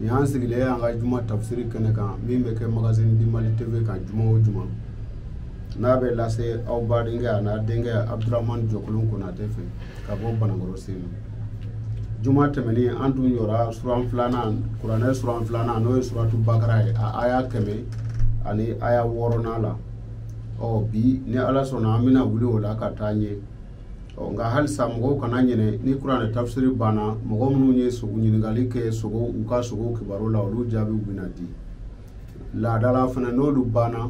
nin y'an sigilen y'an ka juma tafsiri kɛnɛ kan min bɛ kɛ magazine du mali tv kan juma o juma n'a bɛ lase aw badenkɛ a n'a denkɛ abdurahmani jɔkolon konatɛ fɛ ka bɔ banankɔrɔ senu juma tɛmɛnen an tun jɔra suran filanan kuranɛ suran filanan n'o ye suratu bakara ye a aya kɛmɛ ani aya wɔɔrɔnan la ɔ bi ni ala sɔnna an bɛna wuli o la ka taa ɲɛ ɔ nka halisa mɔgɔw kana ɲinɛ ni kuranɛ tafsiri banna mɔgɔ minnu ye sugo ɲininkali kɛ sugo u ka sugo kibaru la olu jaabiw bɛna di laada la fana n'olu banna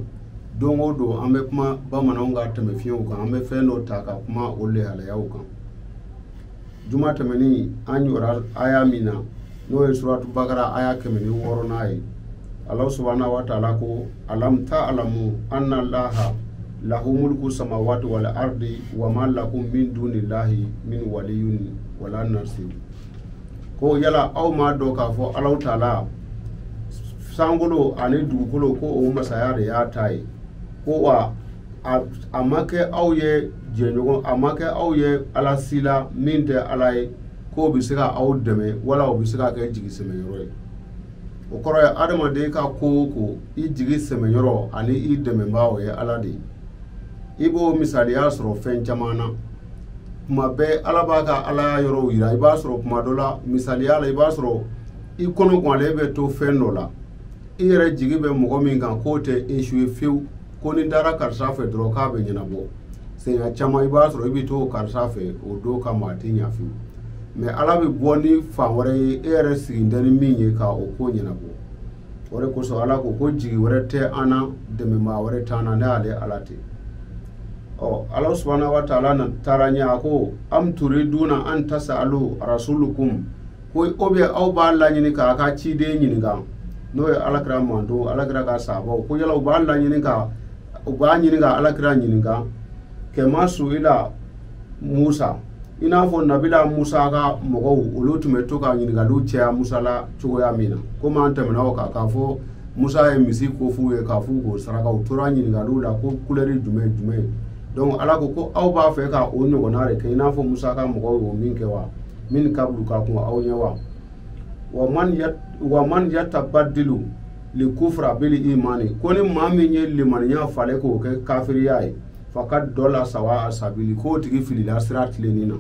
don o don an bɛ kuma bamananw ka tɛnɛfɛnw kan an bɛ fɛn dɔ ta ka kuma o lahalayaw kan juma tɛmɛnen an jɔra aya min na n'o ye suratu bakara aya kɛmɛ ni wɔɔrɔnan ye alahu subahana wa taala ko alam taalamu anna laha lahu mulku samawati wal ardi wa ma lakum min dunillahi min waliyin wala nasir ko yala aw m'a dɔn k'a fɔ alahu taala sankolo ani dugukolo ko o masaya de y'a ta ye ko wa a ma kɛ aw ye jɛɲɔgɔn a ma kɛ aw ye ala si la min tɛ ala ye k'o bɛ se ka aw dɛmɛ wala o bɛ se ka kɛ jigi sɛmɛyɔrɔ ye o kɔrɔ ye adamaden ka ko o ko i jigi sɛmɛyɔrɔ ani i dɛmɛbaa o ye ala de ye i b'o misaliya sɔrɔ fɛn caman na kuma bɛɛ ala b'a ka ala yɔrɔw yira i b'a sɔrɔ kuma dɔ la misaliya la i b'a sɔrɔ i kɔnɔganlen bɛ to fɛn dɔ la i yɛrɛ jigi bɛ mɔgɔ min kan k'o tɛ échoué fewu ko n'i taara karisa fɛ dɔrɔn k'a bɛ ɲɛnabɔ siɲɛ caman i b'a sɔrɔ i bɛ to karisa fɛ o don kama a tɛ ɲa fewu mɛ ala bɛ bɔ ni fan wɛrɛ ye e yɛrɛ sigi tɛ ni min ye ka o ko ɲɛnabɔ o de kosɔn ala ko ko jigi wɛrɛ tɛ an na dɛmɛbaa wɛrɛ t'an na ni ale ala tɛ ɔ ala subahana wa taala na taara ɲɛ a ko am turiduna an tasa'alu rasulukum ko o bɛ aw b'a laɲini k'aw ka ciden ɲininka n'o ye alakira mantɔn alakira ka sahabaw ko yala u b'a laɲini ka u b'a ɲini ka alakira ɲininka kama suila musa i n'a fɔ nabila musa ka mɔgɔw olu tun bɛ to ka ɲininkaliw caya musa la cogoya min na komi an tɛmɛna o kan k'a fɔ musa ye misi ko f'u ye k'a f'u k'o saraka u tora ɲininkaliw la ko kulɛri jumɛn jumɛn donc ala ko ko aw b'a fɛ ka o ɲɔgɔnna de kɛ i n'a fɔ musa ka mɔgɔw y'o min kɛ wa min kabulu ka kɔn aw ɲɛ wa wa man ya wa man yatabaddilu li kufra bil imani ko ni maa min ye limaniya falen k'o kɛ kafiriya ye fakad dala sawa a sabili k'o tigi filila sira tilennen na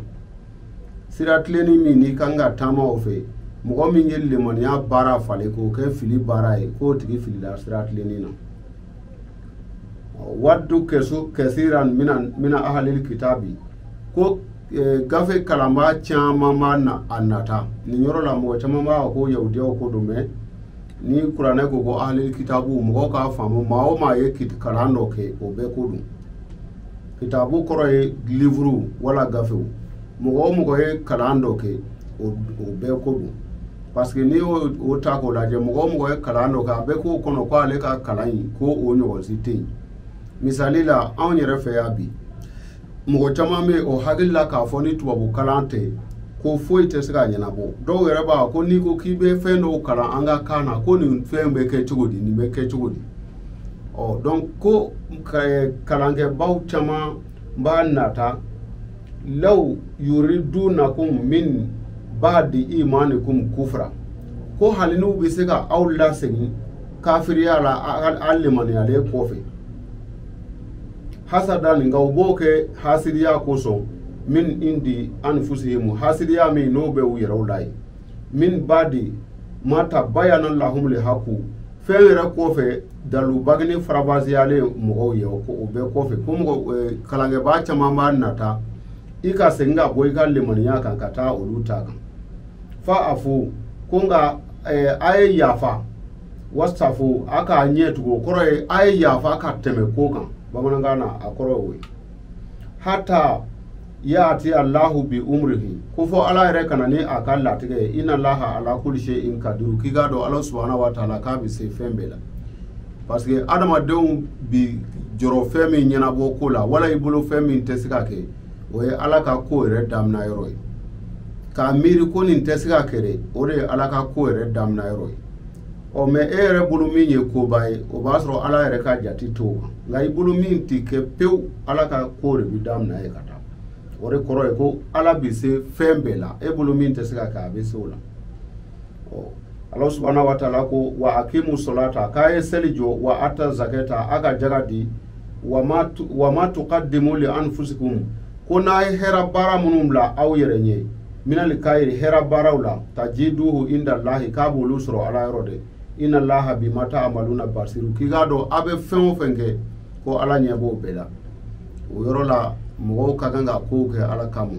sira tilennen min n'i kan ka taama o fɛ mɔgɔ min ye limaniya baara falen k'o kɛ fili baara ye k'o tigi filila sira tilennen na waddu kɛsu kɛsiran mina ahalil kitabi ko e, gafe kalanbaa caman b'a na a nata nin yɔrɔ la mɔgɔ caman b'a ko yahudiyaw ko don mɛ ni kuranɛ ko ko ahalil kitabu mɔgɔw k'a faamu maa o maa ye kalan dɔ kɛ o bɛɛ ko don kitabu kɔrɔ ye livre wala gafew mɔgɔ o mɔgɔ ye kalan dɔ kɛ o bɛɛ ko don parce que n'i y'o ta k'o lajɛ mɔgɔ o mɔgɔ ye kalan dɔ kɛ a bɛ k'o kɔnɔ ko ale ka kalan in ko o ɲɔgɔn si tɛ yen misali la anw yɛrɛ fɛ yan bi mɔgɔ caman bɛ o hakili la k'a fɔ ni tubabu kalan tɛ ko foyi tɛ se ka ɲɛnabɔ dɔw yɛrɛ b'a ko n'i ko k'i bɛ fɛn dɔw kalan an ka kan na ko nin fɛn bɛ kɛ cogo di nin bɛ kɛ cogo di ɔ donc ko kalankɛbaw caman b'a nata law yuridunakum min ba'di imanikum kufra ko hali n'u bɛ se ka aw lasegin kafiriya la aw limaniyalen kɔfɛ hasadan nka u b'o kɛ hasidiya kosɔn min indi anfusihim hasidiya min n'o bɛ u yɛrɛw la yen min ba'di ma tabayana lahum lihaku fɛn yɛrɛ kɔfɛ dalu bangenen faranfasiyalen mɔgɔw ye o bɛɛ kɔfɛ ko mɔgɔ eh, kalankɛbaa caman b'a nata i ka segin ka bɔ i ka limaniya kan ka taa olu ta kan fa'afu ko nka eh, a ye yafa wasfahu a k'a ɲɛ tugu o kɔrɔ ye a ye yafa ka tɛmɛ ko kan bamanankan na a kɔrɔ ye o ye hata yaati allahu bi umrihi ko fo ala yɛrɛ ka na ni a ka latigɛ ye ina laha ala kuli sayin kadiru k'i k'a dɔn ala subahana wa taala k'a bɛ se fɛn bɛɛ la parce que adamadenw bi jɔrɔ fɛn min ɲɛnabɔ ko la wala i bolo fɛn min tɛ se ka kɛ o ye ala ka ko yɛrɛ damina yɔrɔ ye k'a miiri ko nin tɛ se ka kɛ dɛ o de ye ala ka ko yɛrɛ damina yɔrɔ ye ɔ mɛ e yɛrɛ bolo min ye koba ye o b'a sɔrɔ ala yɛrɛ ka jate t'o kan nka i bolo min tɛ kɛ pewu ala ka ko de bɛ daminɛ yen ka taa o de kɔrɔ ye ko ala bɛ se fɛn bɛɛ la e bolo min tɛ se ka kɛ a bɛ se o la ɔ ala subahana wa taala ko wa akimu solata k'a ye seli jɔ wa ata zakata a ka jaga di wa ma tukadimu li anfusikum ko n'a ye hɛrɛ baara minnu bila aw yɛrɛ ɲɛ minal kayri hɛrɛ baaraw la tajiduhu inda lahi k'a b'olu sɔrɔ ala yɔrɔ dɛ ina laha bima taamaluna basiru k'i k'a dɔn aw bɛ fɛn o fɛn kɛ ko ala ɲɛ b'o bɛɛ la o yɔrɔ la mɔgɔw ka kan ka kow kɛ ala kama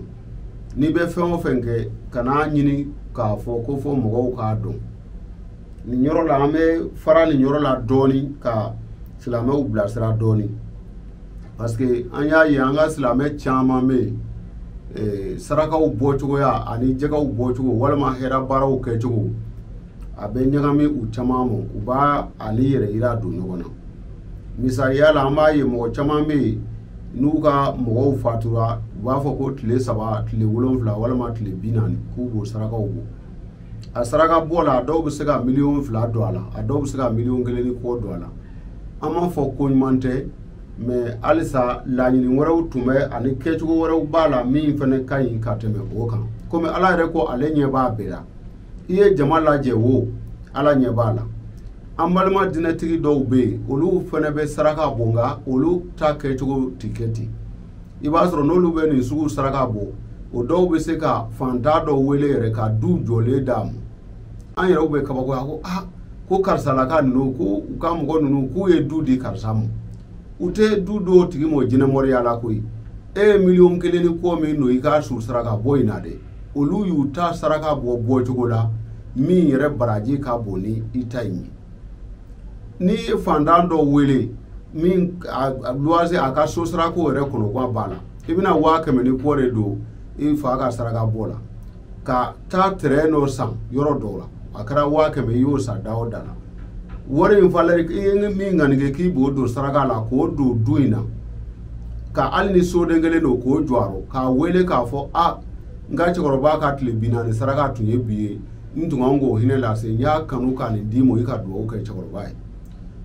n'i bɛ fɛn o fɛn kɛ kan'a ɲini k'a fɔ ko fo mɔgɔw k'a dɔn nin yɔrɔ la an bɛ fara nin yɔrɔ la dɔɔnin ka silamɛw bilasira dɔɔnin parce que an y'a ye an ka silamɛ caman bɛ yen eh, sarakaw bɔcogoya ani jakaw bɔcogo walima hɛrɛ baaraw kɛcogo a bɛ ɲagami u caman ma u b'a ani yɛrɛyira don ɲɔgɔn na misaliya la an b'a ye mɔgɔ caman bɛ yen n'u ka mɔgɔw fatura u b'a fɔ ko tile saba tile wolonfila walima tile bi naani k'u b'o sarakaw bɔ a saraka bɔ la a dɔw bɛ se ka miliyɔn fila don a la a dɔw bɛ se ka miliyɔn kelen ni kɔ don a la an m'a fɔ ko ɲuman tɛ mɛ halisa laɲini wɛrɛw tun bɛ ani kɛcogo wɛrɛw b'a la min fana ka ɲi ka tɛmɛ o kan komi ala yɛrɛ ko ale ɲɛ b'a bɛɛ la i ye jama lajɛ wo ala ɲɛ b'a la an balima dinɛtigi dɔw bɛ yen olu fana bɛ saraka bɔ nka olu ta kɛcogo tɛ kɛ ten i b'a sɔrɔ n'olu bɛ nin sugu saraka bɔ o dɔw bɛ se ka fantan dɔ wele yɛrɛ ka du jɔlen d'a ma an yɛrɛw bɛ kabakoya ko ah ko karisalaka ninnu ko u ka mɔgɔ ninnu k'u ye du di karisa ma u tɛ du d'a tigi ma jinɛmoriya la koyi e ye miliyɔn kelen ni kɔ min don i ka su saraka bɔ in na dɛ olu y'u ta saraka bɔ bɔcogo la min yɛrɛ baraji ka bon ni i ta in ye n'i ye fantan dɔ wele min luwase a ka so sarako yɛrɛ kɔnɔgan b'a la i bɛna waa kɛmɛ ni kɔ de don i fa ka saraka bɔ la ka taa tɛrɛn dɔ san yɔrɔ dɔw la a kɛra waa kɛmɛ i y'o san da o da la wari in falɛ i ye min ŋanige k'i b'o don saraka la k'o don du in na ka hali ni soden kelen don k'o jɔ a rɔ k'a wele k'a fɔ a n ka cɛkɔrɔba ka tile bi naani saraka tun ye bi ye n tun kan k'o hinɛ lase n y'a kanu ka nin d'i ma i ka dugawu kɛ cɛkɔrɔba ye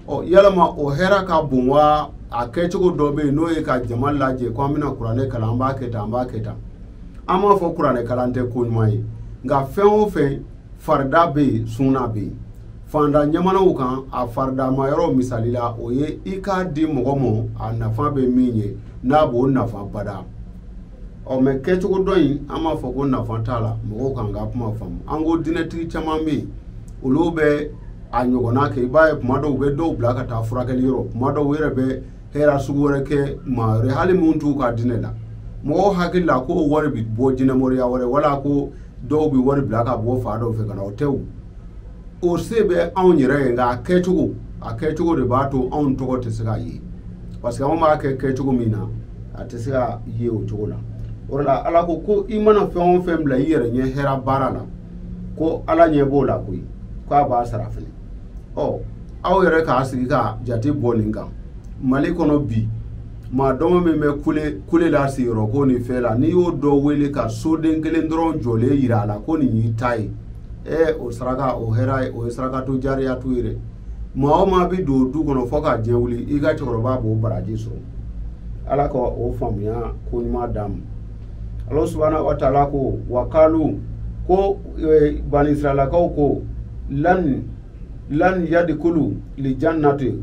ɔ yalama o hɛrɛ ka bon wa a kɛcogo dɔ bɛ yen n'o ye ka jama lajɛ ko an bɛna kuranɛ kalan an b'a kɛ tan an b'a kɛ tan an m'a fɔ kuranɛ kalan tɛ ko ɲuman ye nka fɛn o fɛn farida bɛ yen sunna bɛ yen fanda ɲamanaw kan a faridama yɔrɔ misali la o ye i k'a di mɔgɔ ma a nafa bɛ min ye n'a b'o nafa bada ɔ mɛ kɛcogo dɔ in an m'a fɔ ko nafa t'a la mɔgɔw kan ka kuma faamu an ko dinɛtigi caman bɛ yen olu bɛ a ɲɔgɔnna kɛ i b'a ye kuma dɔw u bɛ dɔw bila ka taa furakɛli yɔrɔ kuma dɔw u yɛrɛ bɛ hɛrɛ sugu wɛrɛ kɛ maa wɛrɛ hali minnu t'u ka diinɛ la mɔgɔw hakili la ko wari bɛ bɔ jinɛmoriya wɛrɛ wala ko dɔw bɛ wari bila ka bɔ fan dɔw fɛ ka na o tɛ o o se bɛ anw yɛrɛ ye nka a kɛcogo a kɛcogo de b'a to anw tɔgɔ tɛ se ka ye parce que anw b'a kɛ kɛcogo min na a tɛ se ka ye o cogo la o la ala ko ko i mana fɛn o fɛn bila i yɛrɛ ɲɛ hɛrɛ baara la ko ala ɲɛ b'o la koyi k'a b'a sara fɛnɛ ɔ aw yɛrɛ k'a sigi ka jate bɔ nin kan mali kɔnɔ bi maa dɔgɔ min bɛ kule kule la sigiyɔrɔ ko nin fɛn la n'i y'o dɔ wele ka soden kelen dɔrɔn jɔlen yira a la ko nin y'i ta ye ɛ o saraka o hɛrɛ ye o ye sarakatu jariyatu ye dɛ maa o maa bɛ don du kɔnɔ fɔ ka diɲɛ wuli i ka cɛkɔrɔba b'o baraji sɔrɔ ala ka o faamuya ko ɲuman d'an ma ala subahana wa taala ko wa kaalu ko eh, banisiralakaw ko lan lan yadikulu lijannati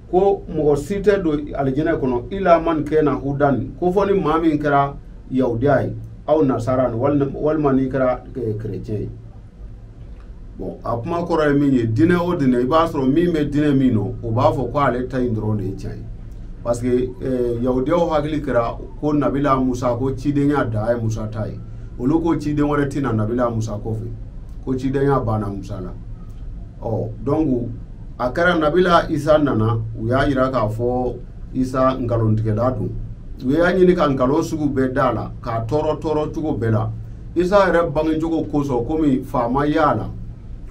ko mɔgɔ si tɛ don alijinɛ kɔnɔ ila man kɛna hudan ko fɔ ni maa min kɛra yahudiya ye aw nasara walima n'i kɛra eh, kerecɛn ye bon a kuma kɔrɔ ye min ye dinɛ o dinɛ i b'a sɔrɔ min bɛ dinɛ min nɔ o b'a fɔ ko ale ta in dɔrɔn de ye tiɲɛ ye parce que eh, yahudiyaw hakili kɛra ko nabila musa ko cidenya dan ye musa ta ye olu ko ciden wɛrɛ tɛ na nabila musa kɔfɛ ko cidenya banna musa la ɔ donc a kɛra nabila isa nana u y'a yira k'a fɔ isa nkalontigɛla don u y'a ɲini ka nkalon sugu bɛɛ da a la k'a tɔɔrɔ tɔɔrɔ cogo bɛɛ la isa yɛrɛ bangecogo kosɔn komi fa ma y'a la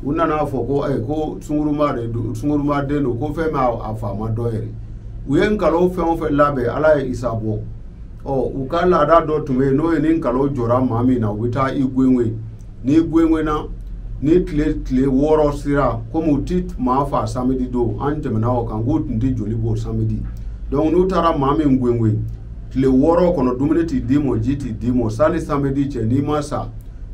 u nana fɔ ko eh, ko sunguruma de don sunguruma den don ko fɛn bɛ a fa ma dɔn yɛrɛ u ye nkalo fɛn o fɛn labɛn ala ye isa bɔ ɔ u ka laada dɔ tun bɛ yen n'o ye ni nkalo jɔra maa min na u bɛ taa i gwengwe n'i gwengwena ni tile tile wɔɔrɔ sera komi u ti maa fa samedi don an tɛmɛna o kan k'u tun tɛ joli bɔ samedi donc n'u taara maa min gwengwe tile wɔɔrɔ kɔnɔ dumuni ti d'i ma ji ti d'i ma sani samedi cɛ n'i ma sa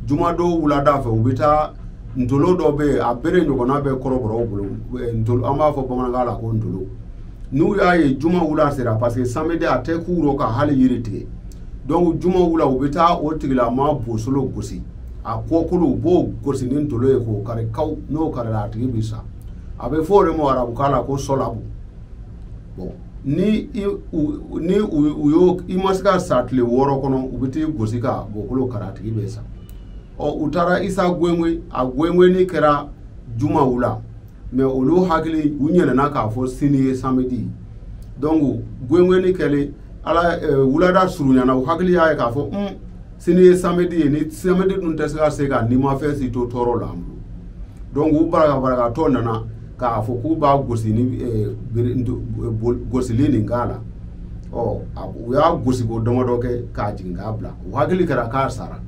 jumadon wulada fɛ u bɛ taa ntolo dɔ bɛ yen a bere ɲɔgɔnna bɛ kɔrɔbɔrɔw bolo eh, ntolo an b'a fɔ bamanankan la ko ntolo n'u y'a ye juma wula sera parce que samedi a tɛ k'u rɔ ka hali yiri tigɛ donc juma wula u bɛ taa o tigilama bosolo gosi a kɔkolo u b'o gosi ni ntolo ye k'o kari kaw n'o karila a tigi bɛ sa a bɛ fɔ o de ma arabukan la ko sɔlabu bon ni i u ni u u y'o i ma se ka sa tile wɔɔrɔ kɔnɔ u bɛ t'i gosi ka bɔkolo kari a tigi bɛ sa ɔ u taara isa gwengwe a gwengweni kɛra juma wula mais olu hakili u ɲinɛna k'a fɔ sini ye samedi donc gwengweni kɛlen ala eh, wulada surunyana u hakili y'a ye k'a fɔ un sini ye samedi ye ni samedi dun tɛ se ka se ka nimafɛn si to tɔɔrɔ la an bolo donc u barakabarakatɔ nana k'a fɔ k'u b'a gosi ni eh, gosili nin k'a la ɔ u y'a gosiko damadɔ kɛ k'a jigin k'a bila u hakili kɛra k'a sara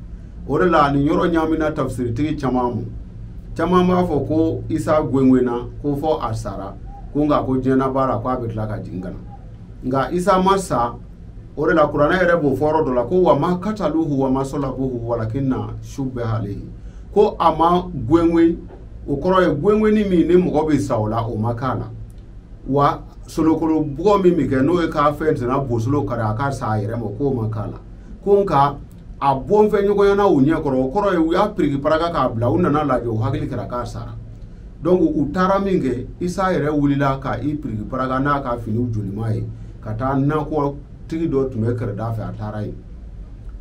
o de la nin yɔrɔ ɲaamina tafisiritigi caman ma caman b'a fɔ ko isa gwengwena ko fɔ a sara ko nka ko diɲɛ laban la ko a bɛ tila ka jigin ka na nka isa ma sa o de la kuranɛ yɛrɛ b'o fɔ yɔrɔ dɔ la ko wa ma kataluhu wa ma salabuhu walakinna shubbiha alayhi ko a ma gwengwen o kɔrɔ ye gwengwenni min ni mɔgɔ bɛ sa o la o ma k'a la wa solokolo bugɔ min bɛ kɛ n'o ye k'a fɛn tɛna bosolo kari a ka sa a yɛrɛ ma k'o ma k'a la ko nka a bɔnfɛ ɲɔgɔnyana u ɲɛ kɔrɔ o kɔrɔ ye u y'a piriki paraka k'a bila u nana lajɛ u hakili kɛra k'a sara donc u taara min kɛ isa yɛrɛ wulila ka i piriki paraka n'a ka finiw jolima ye ka taa nakɔ tigi dɔ tun bɛ kɛrɛda fɛ a taara yen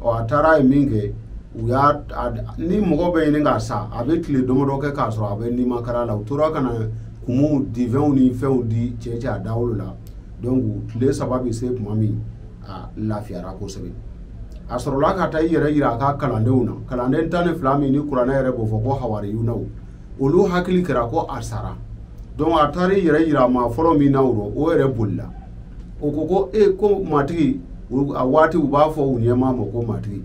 ɔ a taara yen min kɛ u y'a ni mɔgɔ bɛ ɲini ka sa a bɛ tile damadɔ kɛ k'a sɔrɔ a bɛ nimakara la u tora ka na kumuw divɛnw ni fɛnw di cɛ cɛ a dawolo la donc tile saba bɛ se tuma min a lafiyara kosɛbɛ a sɔrɔla ka taa i yɛrɛ yira a ka kalandenw na kalanden tan ni fila min ni kuranɛ yɛrɛ b'o fɔ ko hawariyunaw olu hakili kɛra ko a sara donc a taara i yɛrɛ yira maa fɔlɔ min na o rɔ o yɛrɛ bolila o ko ko e ko matigi a waati u b'a fɔ u ɲɛmaa ma ko matigi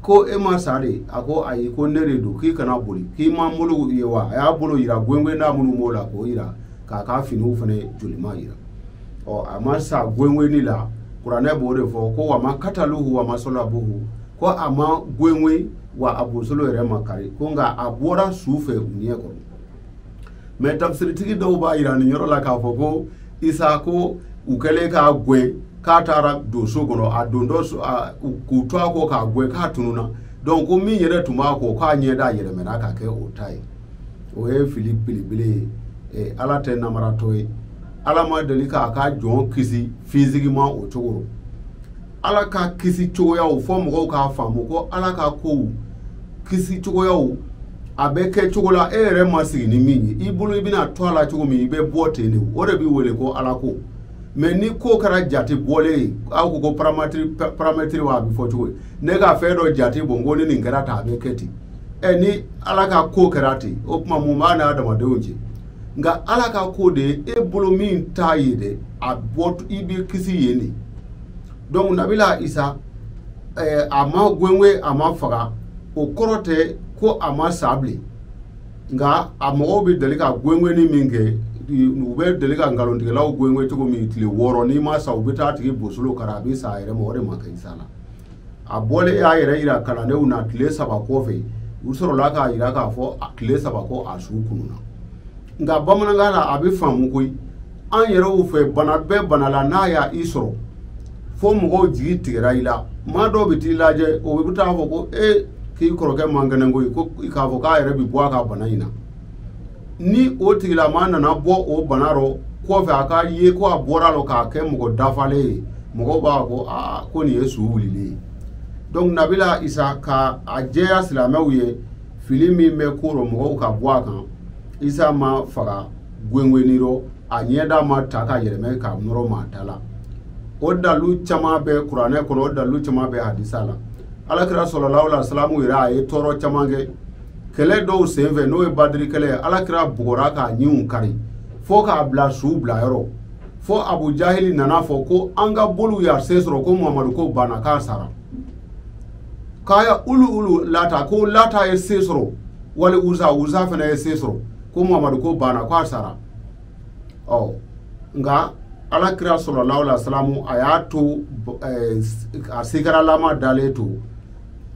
ko e ma sa de a ko ayi ko ne de don k'i kana boli k'i ma bolo ye wa a y'a bolo yira gwengwenda minnu b'o la k'o yira k'a ka finiw fana jolima yira ɔ a ma sa gwengwenni la kuranɛ b'o de fɔ ko wa ma kataluhu wa ma salabuhu ko a ma gwengwen wa a bosolo yɛrɛ ma kari ko nka a bɔra su fɛ u ɲɛ kɔrɔ mais tafsiritigi dɔw b'a yira nin yɔrɔ la k'a fɔ ko isa ko u kɛlen k'a gwen k'a taara don so kɔnɔ a don dɔ so- a- u- k'u to a kɔ k'a gwen k'a tununa donc ko min yɛrɛ tun b'a kɔ k'a ɲɛda yɛlɛmɛna ka kɛ o ta ye o ye fili belebele ye Eh, ala tɛ namaratɔ ye ala ma deli k'a ka jɔn kisi physiquement o cogo rɔ ala ka kisi cogoyaw fɔ mɔgɔw k'a faamu ko ala ka kow kisi cogoyaw a bɛ kɛ cogo la e yɛrɛ ma sigi ni min ye i bolo i bɛna to a la cogo min i bɛ bɔ ten de o de bɛ wele ko ala ko mais ni ko kɛra jate bɔlen ye aw ko ko paramètre paramètre wa a bɛ fɔ cogo ye ne ka fɛn dɔ jate bɔ n ko ni nin kɛra tan a bɛ kɛ ten ɛ ni ala ka ko kɛra ten o tuma mun b'a n'a adamadenw cɛ nka ala ka ko de e bolo min t'a ye dɛ a bɔ i bɛ kisi yen de donc nabila isa eh, a ma gwengwen a ma faga o kɔrɔ tɛ ko a ma sa bilen nka a mɔgɔw bɛ deli ka gwengwenni min kɛ u bɛ deli ka nkalontigɛlaw gwengwen cogo min tile wɔɔrɔ n'i ma sa u bɛ t'a tigi bosolo kari a bɛ sa a yɛrɛ ma o de ma kɛ isa la a bɔlen y'a yɛrɛ yira kalandenw na tile saba kɔfɛ u sɔrɔla k'a yira k'a fɔ tile saba kɔ a su kununa nka bamanankan na a bɛ faamu koyi an yɛrɛw fɛ bana bɛɛ bana la n'a y'i sɔrɔ fo mɔgɔw jigi tigɛra i la maa dɔw bɛ t'i lajɛ o bɛ taa fɔ ko e k'i kɔrɔkɛ man kɛnɛ koyi ko k'a fɔ k'a yɛrɛ bɛ bɔ a ka bana in na ni o tigilamaa nana bɔ o bana rɔ kɔfɛ a ka ye ko a bɔra rɔ k'a kɛ mɔgɔ dafalen ye mɔgɔw b'a ko aa ko nin ye su wulilen ye donc nabila isa ka a jɛya silamɛw ye fili min bɛ ko rɔ mɔgɔw ka bɔ a kan isa ma faga gwengwenni rɔ a ɲɛda ma ta ka yɛlɛmɛ k'a nɔrɔ maa ta la o dalu caman bɛ kuranɛ kɔnɔ o dalu caman bɛ hadisa la alakira sallallahu alaihi wasallam yɛrɛ a ye tɔɔrɔ caman kɛ kɛlɛ dɔw sen fɛ n'o ye badiri kɛlɛ ye ala kira bugɔra k'a ɲinw kari fo k'a bila su bila yɔrɔ fo abu jahili nana fɔ ko an ka boliw y'a se sɔrɔ ko muhamadu ko banna k'a sara k'a ya ulu ulu lata ko lata ye se sɔrɔ wali uza uza fana ye se sɔrɔ ko muhamadu ko banna k'a sara ɔ nka ala kira sallallahu alaihi wasallam a y'a to eh, a sigaralama dalen to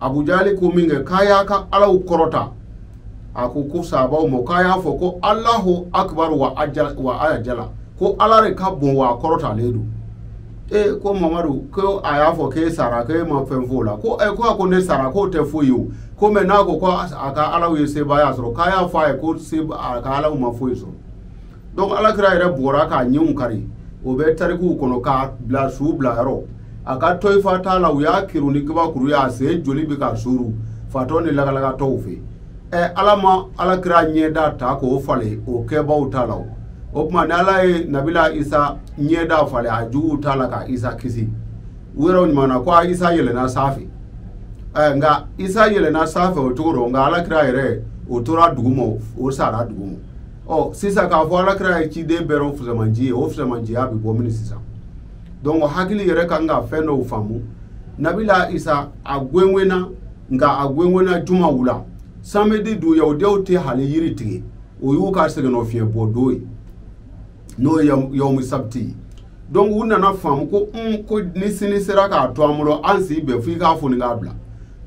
abu jali ko minkɛ k'a y'a ka alaw kɔrɔta a ko ko sahabaw ma k'a y'a fɔ ko alahu akubaru wa ajala ko ala de ka bon wa a kɔrɔtalen don ee ko mamadu ko a y'a fɔ k'e sara k'e ma fɛn f'o la ko ee ko a ko ne sara k'o tɛ foyi ye o ko mais n'a ko ko a ka alaw ye sebaaya sɔrɔ k'a y'a fɔ a ye ko a ka alaw ma foyi sɔrɔ donc alakira yɛrɛ bugɔra k'a ɲinw kari o bɛ tarikuw kɔnɔ k'a bila su bila yɔrɔ a ka tayifa taa la u y'a kiru ni kabakuru ye a sen joli bɛ ka suru fatɔ ni lagalagatɔw fɛ ɛ ala ma alakira ɲɛda ta k'o falen o kɛbaaw ta la o o tuma ni ala ye nabila isa ɲɛda falen a juguw ta la ka isa kisi u yɛrɛ ɲumanna ko a isa yɛlɛnna sanfɛ ɛ nka isa yɛlɛnna sanfɛ o cogo rɔ nka alakira yɛrɛ o tora duguma o sara duguma ɔ sisan k'a fɔ alakira ye ciden bɛɛ rɔ fisamanci ye o fisamanciya bɛ bɔ mini sisan donc hakili yɛrɛ kan ka fɛn dɔw faamu nabila isa a gwengwenna nka a gwengwenna juma wula samedi dun yahudiyaw tɛ hali yiri tigɛ o y'u ka sɛgɛnnafiɲɛbɔ don ye n'o ye yawmu sabiti ye donc u nana faamu ko un ko ni sini sera k'a to an bolo an si bɛn fo i k'a foni k'a bila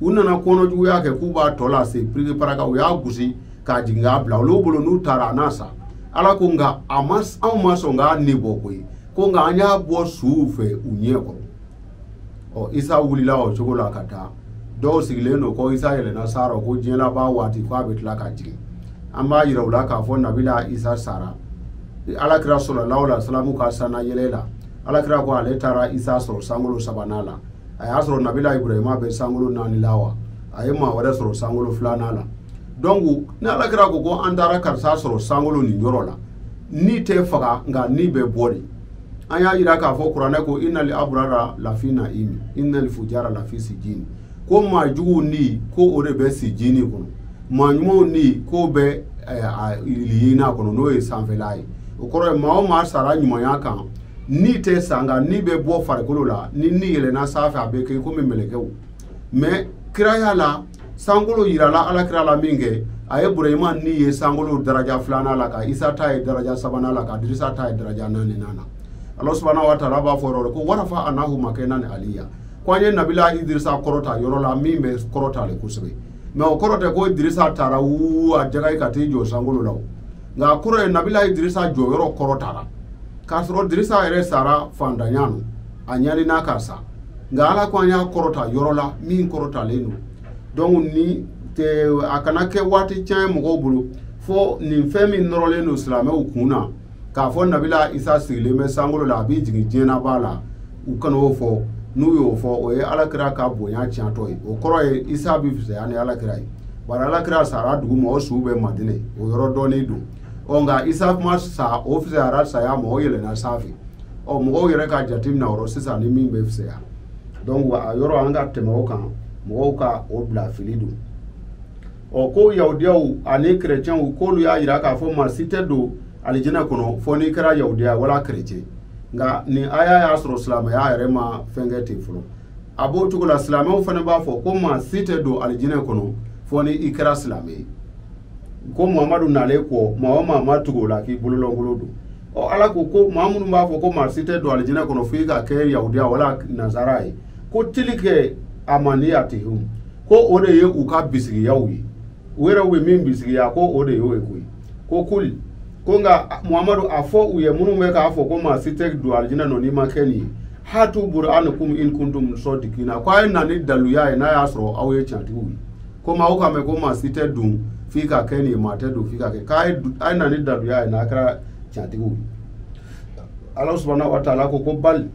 u nana kɔnɔjuguya kɛ k'u b'a tɔ lase piriki paraka u y'a gosi k'a jigin k'a bila olu bolo n'u taara a n'a sa ala ko nka a ma anw ma sɔn k'a ni bɔ koyi ko nka an y'a bɔ suw fɛ u ɲɛ kɔrɔ ɔ isa wulila o cogo la ka taa dɔw sigilen don ko isa yɛlɛnna san na ko diɲɛ laban waati ko a bɛ tila ka jigin an b'a yira u la k'a fɔ nabila isa sara alakira sallallahu alaihi wasallam ka sanna yɛlɛ la alakira ko ale taara isa sɔrɔ sankolo sabanan la a y'a sɔrɔ nabila ibrahima bɛ sankolo naani la wa a ye maa wɛrɛ sɔrɔ sankolo filanan la donc ni ala kira ko ko an taara karisa sɔrɔ sankolo nin yɔrɔ la ni tɛ faga nka ni bɛ bɔ de an y'a jira k'a fɔ kuranɛ ko inali aburara lafi naimi inali fujara lafi sijini ko maa juguw ni ko o de bɛ sijini kɔnɔ maa ɲumanw ni ko bɛ iliyina kɔnɔ n'o ye sanfɛla ye o kɔrɔ ye maa o maa sara ɲumanya kan ni tɛ sa nka ni bɛ bɔ farikolo la ni ni yɛlɛnna sanfɛ a bɛ kɛ komi mɛlɛkɛw mɛ kiraya la sankolo yirala ala kira la min kɛ a ye burahima ni ye sankolo daraja filanan la ka isa ta ye daraja sabanan la ka dirisa ta ye daraja naaninan na ala subahana wa taala b'a fɔ yɔrɔ de ko warafa anahu makanan aliya ko an ye nabila idirisa kɔrɔta yɔrɔ la min bɛ kɔrɔtalen kosɛbɛ mɛ o kɔrɔ tɛ ko idirisa taara wuu a jaga ye ka t'i jɔ sankolo la o nka a kɔrɔ ye nabila idirisa jɔyɔrɔ kɔrɔtara k'a sɔrɔ dirisa yɛrɛ sara fantanya nɔ a ɲanina ka sa nka ala ko an y'a kɔrɔta yɔrɔ la min kɔrɔtalen don donc ni a kana kɛ waati tiɲɛ ye mɔgɔw bolo fo nin fɛn min nɔrɔlen don silamɛw kun na k'a fɔ nabila isa sigilen bɛ sankolo la a b'i jigin diɲɛ laban na u kana o fɔ n'u y'o fɔ o ye ala kira ka bonya tiɲɛtɔ ye o kɔrɔ ye isa bɛ fisaya ni ala kira ye bari ala kira sara dugu ma o su bɛ madinɛ o yɔrɔ dɔnnen don ɔ nka isa k'o ma sa o fisayara saya ma o yɛlɛna sanfɛ ɔ mɔgɔw yɛrɛ ka jateminɛ o rɔ sisan ni min bɛ fisaya donc a yɔrɔ an ka tɛmɛ o kan mɔgɔw ka o bila fili don ɔ ko yahudiyaw ani kerecɛnw k'olu y'a jira k'a fɔ maa si tɛ don alijinɛ kɔnɔ fo n'i kɛra yahudiya wala kerecɛn nka nin aya y'a sɔrɔ silamɛya yɛrɛ ma fɛn kɛ ten fɔlɔ a b'o cogo la silamɛw fana b'a fɔ ko maa si tɛ don alijinɛ kɔnɔ fo ni i kɛra silamɛ ye ko muhamadu nalen kɔ maa o maa ma tugu o la k'i bolo lankolon don ɔ ala ko ko maa minnu b'a fɔ ko maa si tɛ don alijinɛ kɔnɔ fo i ka kɛ yahudiya wala nazara ye ko tilika amaniyati ko o de ye u ka bisigiyaw ye u yɛrɛ u ye min bisigiya ko o de y'o ye koyi ko kuli ko n ka muhamadu a fɔ u ye minnu bɛ k'a fɔ ko maa si tɛ don alijinɛ nɔ n'i ma kɛ nin ye hatu buruhanakum in kuntum sɔdikina ko a ye na ni daluya ye n'a y'a sɔrɔ aw ye tiɲɛtigiw ye ko maa o ka mɛn ko maa si tɛ don f'i ka kɛ nin ye maa tɛ don f'i ka kɛ k'a ye du- a ye na ni daluya ye n'a kɛra tiɲɛtigiw ye ala subahana wa taala ko ko bali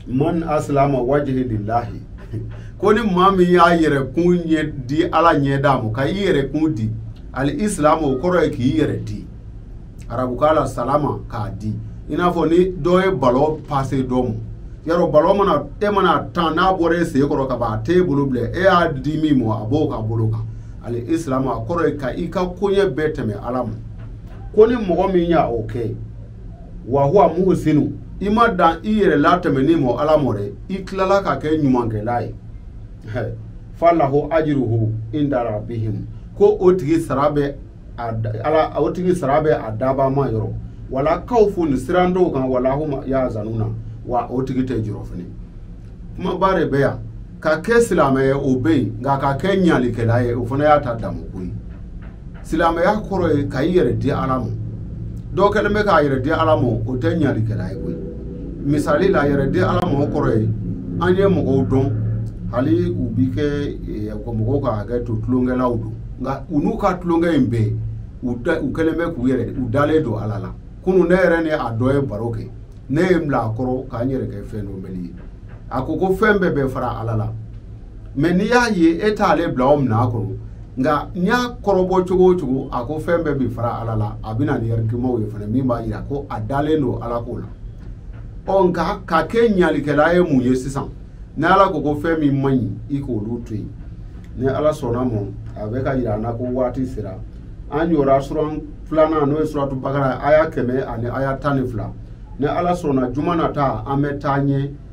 man asilama wajihi lillahi ko ni maa min y'a yɛrɛ kun ɲɛ di ala ɲɛda ma ka i yɛrɛ kun di ali isilamu o kɔrɔ ye k'i yɛrɛ di arabukan la salama k'a di i n'a fɔ ni dɔ ye balɔ pase dɔ ma yɔrɔ balɔ mana e mana a tan n'a bɔra e sen kɔrɔ ka ban a t'e bolo bilen e y'a di min ma a b'o ka bolo kan ali isilamu a kɔrɔ ye ka i ka koɲɛ bɛɛ tɛmɛ ala ma ko ni mɔgɔ min y'o kɛ wa huwa muhsinu i ma dan i yɛrɛ latɛmɛni mɔ ala mɔ dɛ i tilala ka kɛ ɲumankɛla ye falahu ajruhu inda rabbihim ko o tigi sara bɛ a ala o tigi sara bɛ a daba ma yɔrɔ wala kawfun siran t'u kan wala hum yahzanuna wa o tigi tɛ jɔrɔ fɛnɛ kumaba de bɛ yan ka kɛ silamɛ ye o bɛ yen nka ka kɛ ɲalikɛla ye o fana y'a ta damukun ye silamɛya kɔrɔ ye ka i yɛrɛ di ala ma dɔw kɛlen bɛ k'a yɛrɛ di ala ma o tɛ ɲalikɛla ye koyi misali la yɛrɛ di ala ma o kɔrɔ ye an ye mɔgɔw dɔn hali u bi kɛ eh, ka mɔgɔw ka hakɛ to tulonkɛlaw don nka u n'u ka tulonkɛ in bɛɛ u da- u kɛlen bɛ k'u yɛrɛ u dalen don ala la kunu ne yɛrɛ ni a dɔ ye baro kɛ ne ye n bila a kɔrɔ k'an yɛrɛ kɛ fɛn dɔ mɛli ye a ko ko fɛn bɛɛ bɛ fara ala la mɛ n'i y'a ye e t'ale bila o minɛ a kɔnɔ nka n y'a kɔrɔbɔ cogo o cogo a ko fɛn bɛɛ bɛ fara ala la a bɛna ni argumentw ye fana min b'a jira ko a dalen don ala ko la ɔ nka ka kɛ ɲalikɛla ye mun ye sisan ni ala ko ko fɛn min man ɲi i k'olu to yen ni ala sɔnna ma a bɛ k'a jira an na ko waati sera an jɔra suran filanan n'o ye suratu bakara aya kɛmɛ ani aya tan ni fila ni ala sɔnna juma nata an bɛ taa ɲɛ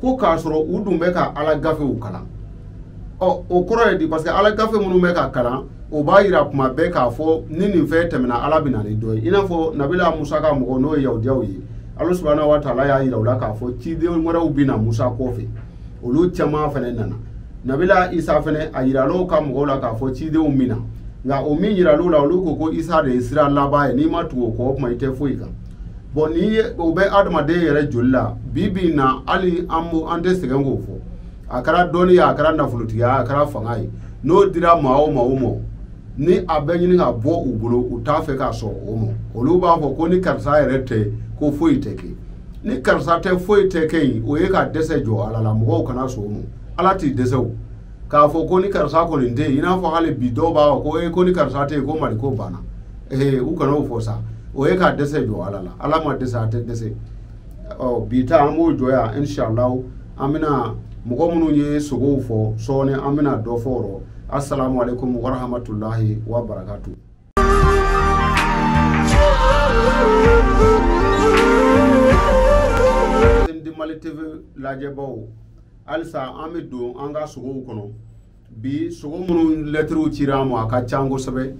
ko k'a sɔrɔ u dun bɛ ka ala gafew kalan ɔ o kɔrɔ ye di parce que ala gafe min u bɛ k'a kalan o b'a yira kuma bɛɛ k'a fɔ ni nin fɛn tɛmɛna ala bɛ na ni dɔ ye i n'a fɔ nabila musa ka mɔgɔw n'o ye yahudiyaw ye ala subahana wa taala y'a yira u la k'a fɔ ciden wɛrɛw bɛ na musa kɔfɛ olu caman fana nana nabila isa fana a yiral'o ka mɔgɔw la k'a fɔ cidenw bɛ na nka o min yiral'u la olu ko ko isa de ye sira laban ye n'i ma tugu o kɔ o kuma i tɛ foyi kan bɔn nin ye o bɛ adamaden yɛrɛ joli la bi bi in na hali an an tɛ sɛgɛn k'o fɔ a kɛra dɔnni ye a kɛra nafolotigiya a kɛra fanga ye n'o dira maa o maa o ma ni a bɛ ɲini ka bɔ u bolo u t'a fɛ ka sɔn o ma olu b'a fɔ ko ni karisa yɛrɛ tɛ ko foyi tɛ kɛ ni karisa tɛ foyi tɛ kɛ yen o ye ka dɛsɛ jɔ ala la mɔgɔw kana sɔn o ma ala tɛ dɛsɛ o k'a fɔ ko ni karisa kɔni tɛ yen i n'a fɔ hali bi dɔw b'a fɔ ko ee ko ni karisa tɛ yen ko mali ko banna ee u kana o fɔ sa o ye ka dɛsɛ jɔ ala la ala ma dɛsɛ a tɛ dɛsɛ ɔ bi ta an b'o jɔ yan inshallah an bɛna mɔgɔ minnu ye sugow fɔ sɔɔni an bɛna dɔ fɔ o rɔ assalamu alaikum warahmatullahi wabarakatuh Mali TV lajɛbaw halisa an bɛ don an ka sogow kɔnɔ bi sogo minnu lɛtiriw cira an ma a ka can kosɛbɛ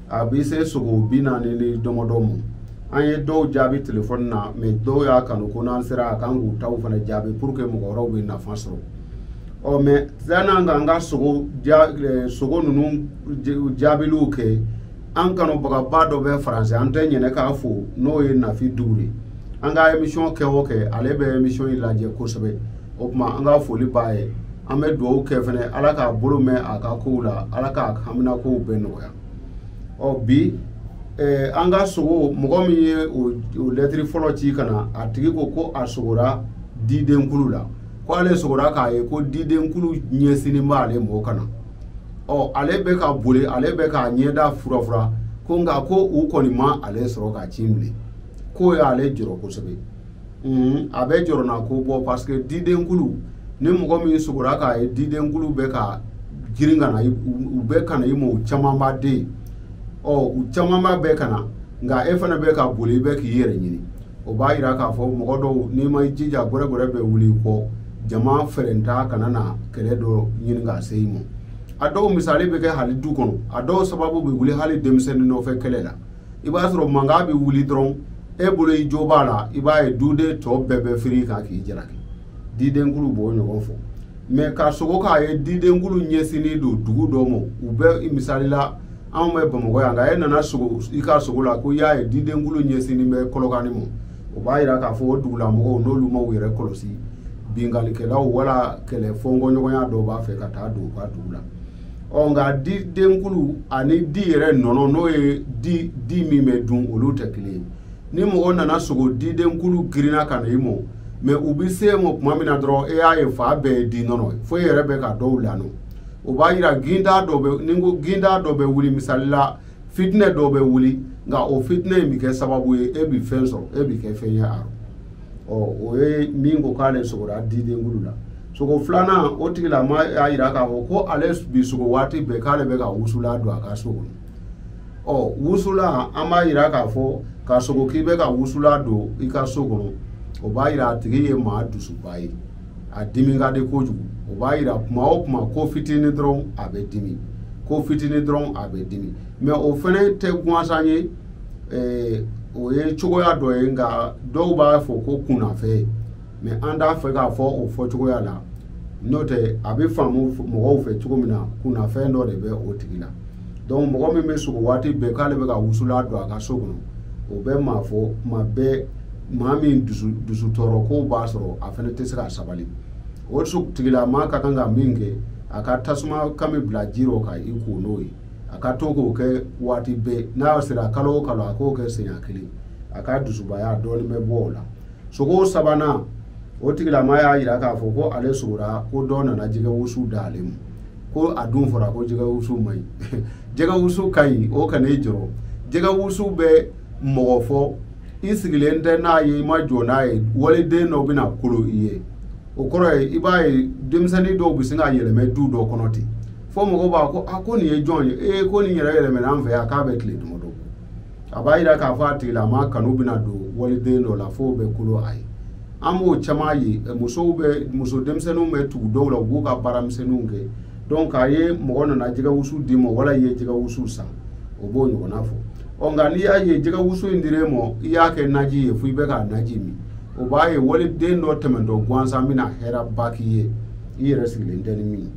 a bɛ se sogo bi naani ni dɔmɔdɔ ma an ye dɔw jaabi telefɔni na mɛ dɔw y'a kanu ko n'an sera a kan k'u taw fana jaabi pour que mɔgɔ wɛrɛw bɛ nafa sɔrɔ ɔ mɛ sann'an k'an ka sogo ja eh, sogo ninnu jaabiliw kɛ an kanubagaba dɔ bɛ faransi an tɛ ɲinɛ k'a fo n'o ye nafi dukure ye an ka emisiyɔn kɛ o kɛ ale bɛ emisiyɔn in lajɛ kosɛbɛ o tuma an ka foli b'a ye an bɛ dugawu kɛ fana ala k'a bolo mɛn a ka kow la ala k'a hamina kow bɛɛ nɔgɔya ɔ bi eh, an ka sogo mɔgɔ min ye o lɛtiri fɔlɔ ci ka na a tigi ko ko a sogora didenkulu la ko ale sogora k'a ye ko didenkulu ɲɛsinnen b'ale mɔ ka na ɔ ale bɛ ka boli ale bɛ k'a ɲɛda furafura ko nka ko u kɔni ma ale sɔrɔ k'a cin bilen k'o y'ale jɔrɔ kosɛbɛ a bɛ jɔrɔnanko bɔ parce que didenkulu ni mɔgɔ min sogora k'a ye didenkulu bɛ ka girin ka na u bɛ ka na i ma u camanba dɛ ɔ u camanba bɛɛ ka na nka e fana bɛ ka boli i bɛ k'i yɛrɛ ɲini o b'a jira k'a fɔ mɔgɔ dɔw n'i ma i jija gɛrɛgɛrɛ bɛ wuli i kɔ jama fɛrɛn ta kana na kɛlɛ dɔ ɲini k'a se i ma a dɔw misali bɛ kɛ hali du kɔnɔ a dɔw sababu bɛ wuli hali denmisɛnnin nɔfɛ kɛlɛ la i b'a sɔrɔ mankan bɛ wuli dɔrɔn e bolo i jo b'a la i b'a ye duden tɔ bɛɛ bɛ firi i kan k'i jalaki didenkulu b'o ɲɔgɔn fɔ mɛ ka sogo k'a ye didenkulu ɲɛsinnen don dugu dɔ ma u bɛ misali la anw bɛ bamakɔ yan nka e nana sogo i ka sogo la ko i y'a ye didenkulu ɲɛsinnen bɛ kɔlɔkani ma o b'a jira k'a fɔ o dugulamɔgɔw n'olu ma u yɛrɛ kɔlɔsi binkalikɛlaw wala kɛlɛ fɔnkɔɲɔgɔnya dɔw b'a fɛ ka taa don u ka dugu la ɔ nka didenkulu ani di yɛrɛ nɔnɔ n'o ye di di min bɛ dun olu tɛ kelen ye ni mɔgɔ nana sogo didenkulu girinna ka na i mɔ mɛ u bɛ se i mɔ tuma min na dɔrɔn e y'a ye fan bɛɛ ye di nɔnɔ ye fo e yɛrɛ bɛ ka dɔw lanɔ o b'a yira ginda dɔ bɛ ni ko ginda dɔ bɛ wuli misali la fitinɛ dɔ bɛ wuli nka o fitinɛ in bɛ kɛ sababu ye e bɛ fɛn sɔrɔ e bɛ kɛ fɛn ye a ɔ o ye min ko k'ale sogora didenkulu la sogo filanan o tigilamaa y'a yira k'a fɔ ko ale bi sogo waati bɛɛ k'ale bɛ ka wusula don a ka so kɔnɔ ɔ wusula an b'a yira k'a fɔ ka sogo k'i bɛ ka wusula don i ka so kɔnɔ o b'a yira a tigi ye maa dusuba ye a dimi ka di kojugu o b'a yira kuma o kuma ko fitinin dɔrɔn a bɛ dimi ko fitinin dɔrɔn a bɛ dimi mɛ o fana tɛ gansan ye o ye cogoya dɔ ye nka dɔw b'a fɔ ko kunnafɛn mais an t'a fɛ k'a fɔ o fɔ cogoya la n'o tɛ a bɛ faamu mɔgɔw fɛ cogo min na kunnafɛn dɔ de bɛ o tigi la donc mɔgɔ min bɛ sogo waati bɛɛ k'ale bɛ ka wusulan don a ka so kɔnɔ o bɛ maa fɔ tuma bɛɛ maa min dusu tɔɔrɔ kow b'a sɔrɔ a fana tɛ se ka sabali o tigilama ka kan ka min kɛ a ka tasuma kami bila ji rɔ ka i ko n'o ye a ka to k'o kɛ waati bɛɛ n'a sera kalo o kalo a k'o kɛ siɲɛ kelen a ka dusubaya dɔɔnin bɛ bɔ o la sogo sabanan o tigilama y'a yira k'a fɔ ko ale sogora ko dɔ nana jɛgɛ wusu d'ale ma ko a dun fɔra ko jɛgɛ wusu man ɲi jɛgɛ wusu ka ɲi o kan'i jɔrɔ jɛgɛ wusu bɛ mɔgɔ fɔ i sigilen tɛ n'a ye i ma jɔ n'a ye waliden dɔ bɛna kolo i ye o kɔrɔ ye i b'a ye denmisɛnnin dɔw bɛ sin ka yɛlɛmɛ du dɔ kɔnɔ ten fo mɔgɔw b'a ko a ko nin ye jɔn ye ee ko nin yɛrɛ yɛlɛmɛna an fɛ yan k'a bɛ tile dama dɔ a b'a yira k'a fɔ a tigilama kanu bɛna don waliden dɔ la f'o bɛ kolo a ye an b'o caman ye musow bɛ muso denmisɛnninw bɛ tugu dɔw la u b'u ka baaramisɛnninw kɛ donc a ye mɔgɔ nana jɛgɛ wusu d'i ma wala i ye jɛgɛ wusu san o b'o ɲɔgɔnna fɔ ɔ nka n'i y'a ye jɛgɛ wusu in dir'e ma i y'a kɛ naji ye fo i bɛ k'a naji min o b'a ye waliden dɔ tɛmɛntɔ gansan bɛna hɛrɛba k'i ye i yɛrɛ sigilen tɛ ni min ye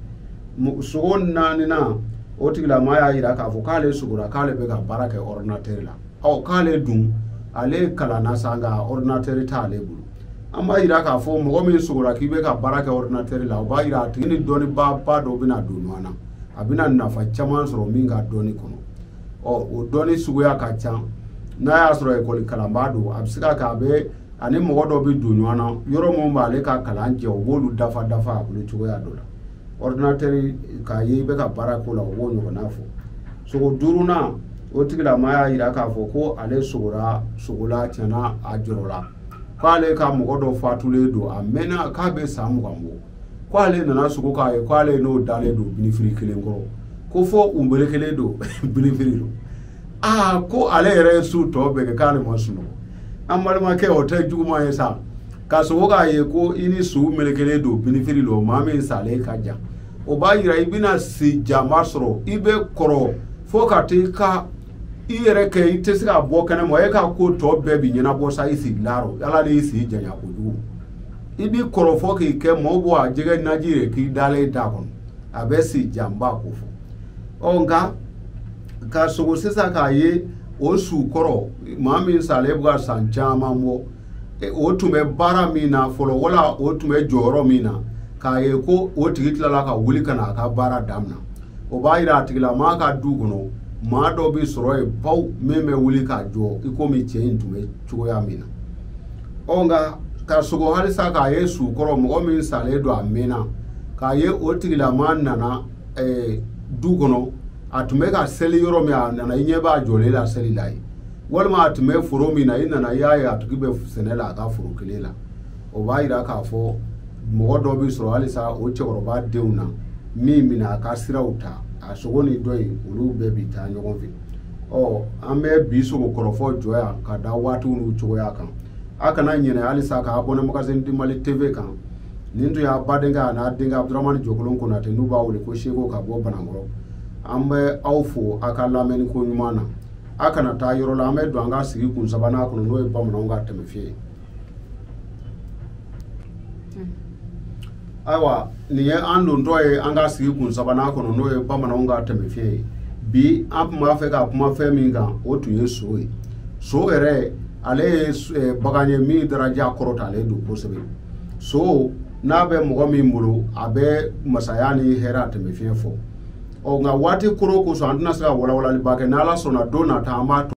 sogo naaninan o tigilama y'a yira k'a fɔ k'ale sogora k'ale bɛ ka baara kɛ ordinateur la ɔ k'ale dun ale kalanna sa nka ordinateur t'ale bolo an b'a yira k'a fɔ mɔgɔ min sogora k'i bɛ ka baara kɛ ordinateur la o b'a yira a tigi ni dɔnnibaa ba dɔ bɛna don ɲɔgɔn na a bɛna nafa caman sɔrɔ min ka dɔnni kɔnɔ ɔ o dɔnni suguya ka ca n'a y'a sɔrɔ ekɔli kalanbaa don a bɛ se ka kɛ a bɛ ani mɔgɔ dɔ bɛ don ɲɔgɔn na yɔrɔ minnu b'ale ka kalan jɛ o b'olu dafa dafa a bolo cogoya dɔ la ordinateur k'a ye i bɛ ka baara k'o la o b'o ɲɔgɔnna fɔ sogo duurunan o tigilama y'a yira k'a fɔ ko ale sogora sogo la tiɲɛ na a jɔrɔla k'ale ka mɔgɔ dɔ fatulen don a mɛnna k'a bɛ san mugan bɔ k'ale nana sogo k'a ye k'ale n'o dalen don binifiri kelen kɔrɔ ko fo u melekelen don binifiri lɔ aa ko ale yɛrɛ ye su tɔ bɛɛ kɛ k'ale ma sunɔgɔ an balimakɛ o tɛ juguman ye sa ka sogo k'a ye ko i ni su melekelen don binifiri lɔ maa min salen ka jan o b'a yira i bɛna si janba sɔrɔ i bɛ kɔrɔ fo ka t'i ka i yɛrɛ kɛ i tɛ se ka bɔ kɛnɛ ma e ka ko tɔ bɛɛ bi ɲɛnabɔ sa i sigilan rɔ ala de y'i si janya kojugu i bɛ kɔrɔ fo k'i kɛ mɔɔ bɔ a jɛgɛ naji yɛrɛ k'i dalen t'a kɔnɔ a bɛ si janba ko fɔ ɔ nka ka sogo sisan k'a ye o su kɔrɔ maa min salen bɛ ka san caman bɔ e, o tun bɛ baara min na fɔlɔ wala o tun bɛ jɔyɔrɔ min na k'a ye ko o tigi tilala ka wuli ka na a ka baara damina o b'a yira a tigilamaa ka du kɔnɔ maa dɔ bɛ sɔrɔ yen baw min bɛ wuli k'a jɔ i komi cɛ in tun bɛ cogoya min na ɔ nka ka sogo halisa k'a ye su kɔrɔ mɔgɔ min salen don a mɛnna k'a ye o tigilamaa nana ɛɛ du kɔnɔ a tun bɛ ka seli yɔrɔ min a nana i ɲɛ b'a jɔlen la seli la yen walima a tun bɛ foro min na i nana i y'a ye a tigi bɛ sɛnɛ la a ka foro kelen la o b'a yira k'a fɔ mɔgɔ dɔ bɛ sɔrɔ halisa o cɛkɔrɔba denw na min bɛna a ka siraw ta a sogo ni dɔ in olu bɛɛ bɛ taa ɲɔgɔn fɛ ɔ an bɛ bi sogo kɔrɔfɔ jɔ yan ka da waatiw n'u cogoya kan a kana ɲinɛ halisa ka abonné magazine du mali tv kan nin tun y'a badenkɛ an'a denkɛ abudurahmani jɔkolon konatɛ n'u b'a wele ko seko ka bɔ banankɔrɔ an bɛ aw fo aw ka lamɛnni koɲuman na aw kana taa yɔrɔ la an bɛ don an ka sigikun sabanan kɔnɔ n'o ye bamananw ka tɛmɛfiye ye ayiwa nin ye an dontɔ ye an ka sigikun sabanan kɔnɔ n'o ye bamananw ka tɛmɛfiye ye bi an tun b'a fɛ ka kuma fɛn min kan o tun ye so ye so yɛrɛ ale ye bagan ye min daraja kɔrɔtalen don kosɛbɛ so n'a bɛ mɔgɔ min bolo a bɛ masaya ni hɛrɛ a tɛmɛ fiɲɛ fɔ ɔ nka waati koro kosɔn an tɛna se ka walawalaliba kɛ n'ala sɔnna don nata an b'a to